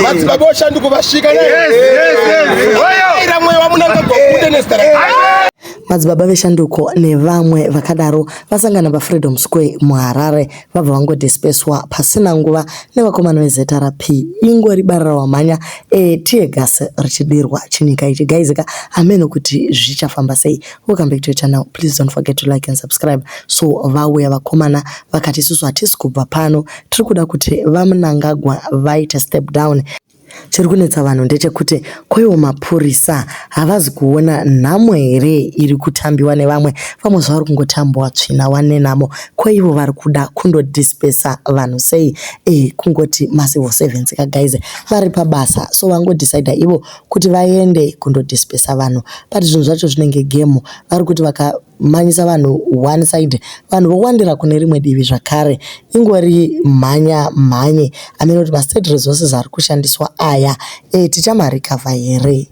madzibaba oshanduko vasvika aira mweya wamunanga gokunde nezita ra madzibaba veshanduko nevamwe vakadaro vasangana pafreedom square muharare vabva vangodespeswa pasina nguva nevakomana vezrp ingori bara rawamhanya etie gas richidirwa chinyika ichi gaizika hameno kuti zvichafamba sei welcome back to your channel please don't forget to like and subscribe so vauya vakomana vakati isusu hatisi kubva pano Tiri kuda kuti VaMnangagwa vaite step down. Chiri kunetsa vanhu ndechekuti koiwo mapurisa havazi kuona nhamo here iri kutambiwa nevamwe. Vamwe zvavari kungotambwa tsvina wane namo. Koivo vari kuda kundodispesa vanhu sei? Eh, kungoti macivil servants ka guys vari pabasa so vangodecider ivo kuti vaende kundodispesa vanhu. But zvinhu zvacho zvinenge game. Vari kuti vaka mhanyisa vanhu one side vanhu vowandira kune rimwe divi zvakare ingori mhanya mhanye amene kuti mastate resources ari kushandiswa aya e, tichamarikavha here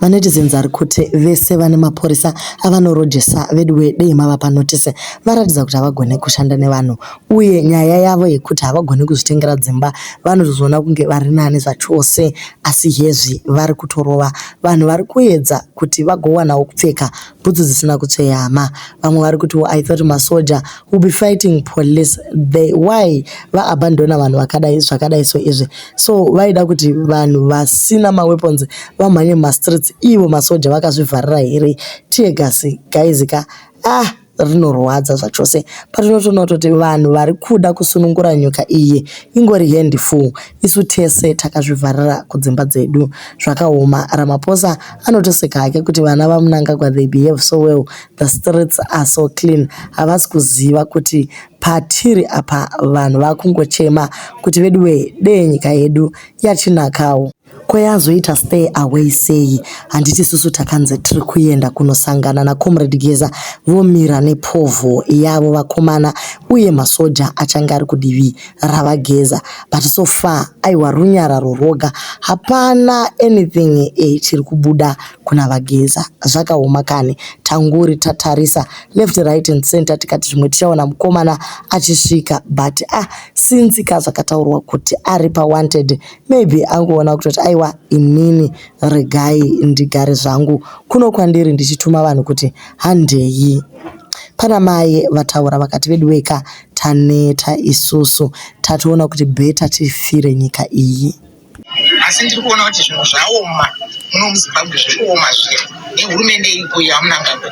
vanetizens ari kuti vese vane mapurisa avanorojesa veduwe dei mavapa notisi varatidza kuti havagone kushanda nevanhu uye nyaya yavo yekuti havagone kuzvitengera dzimba vanotozoona kunge vari nani zvachose asi hezvi vari kutorova vanhu vari kuedza kuti vagowanawo kupfeka bhutsu dzisina kutsveyama vamwe vari kuti i thought masoja will be fighting police they why vaabandona vanhu vakadai zvakadai so izvi so vaida kuti vanhu vasina maweapons vamhanye mumastreets ivo masoja vakazvivharira here tiegasi gaizi ka ah rinorwadza zvachose patinotoona kutoti vanhu vari kuda kusunungura nyoka iyi ingori handful isu tese takazvivharira kudzimba dzedu zvakaoma ramaposa Anotoseka hake kuti vana vaMnangagwa they behave so well, the streets are so clean. Havasi kuziva kuti patiri apa vanhu vakungochema kuti veduwee dee nyika yedu yachinakawo. Ko yazoita stay away sei? Handiti isusu takanzi tiri kuenda kunosangana naComrade Geza vomira nepovho yavo vakomana uye masoja achange ari kudivi ravageza but so far aiwa runyararo rwoga hapana anything eh, chiri kubuda kuna vageza zvakaoma kani tangori tatarisa left right and center tikati zvimwe tichaona mukomana achisvika but ah since ka zvakataurwa kuti ari pawanted maybe angoona kutoti aiwa inini regai ndigare zvangu kuno kwandiri ndichituma vanhu kuti handei pana mai vataura vakati veduweka taneta isusu tatoona kuti better tifire nyika iyi. Asi ndiri kuona kuti zvinhu zvaoma muno muZimbabwe zviri kuoma zviya nehurumende iripo iyi yaMnangagwa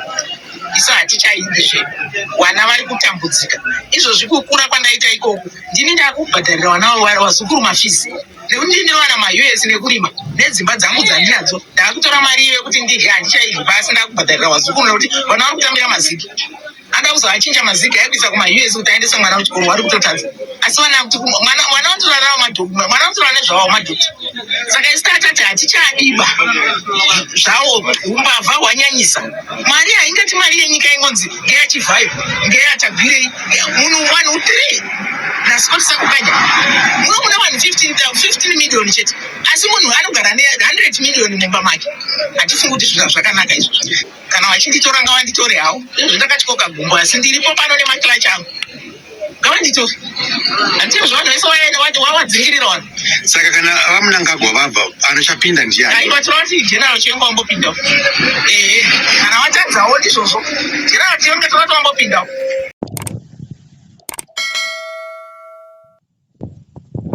isu hatichaidi zvedu vana vari kutambudzika izvozvi kukura kwandaita ikoku ndini ndakubhadharira vana vavo vazukuru mafizi nekuti ndiine vana maus nekurima nedzimba dzangu dzandinadzo ndakutora mari iyo yekuti ndidye handichaidi basi ndakubhadharira vazukuru nekuti vana vari kutambira maziki Anoda kuzoachinja mazigi aibisa kuma US kuti aendese mwana kuchikoro wari kutotadza. Asi vana kuti mwana mwana anotorarama madhokta mwana anotorana nezvawo madhokta. Saka isu tatati hatichadiba zvawo umbavha hwanyanyisa. Mari haingati mari yenyika ingonzi ngeya Chivhayo ngeya Tagwirei munhu one u three nasikotisa kukanya muno mune vanhu 15 ta- 15 million chete asi munhu anogara ne 100 million mumba make hatifungi kuti zvinhu zvakanaka izvozvo. kana vachinditora ngavanditore havo izvo ndakatyoka gumbo asi ndiripo pano nemaclachi angu ngavanditore handiyo zvavanhu vese vaenda wawadzingirira wani saka kana vamunangagwa vabva anochapinda ndiani aiwa tinoda kuti general chiyonga wambopindawo ehe kana vatadzawo ndizvozvo general chiyonga tinoda kuti wambopindawo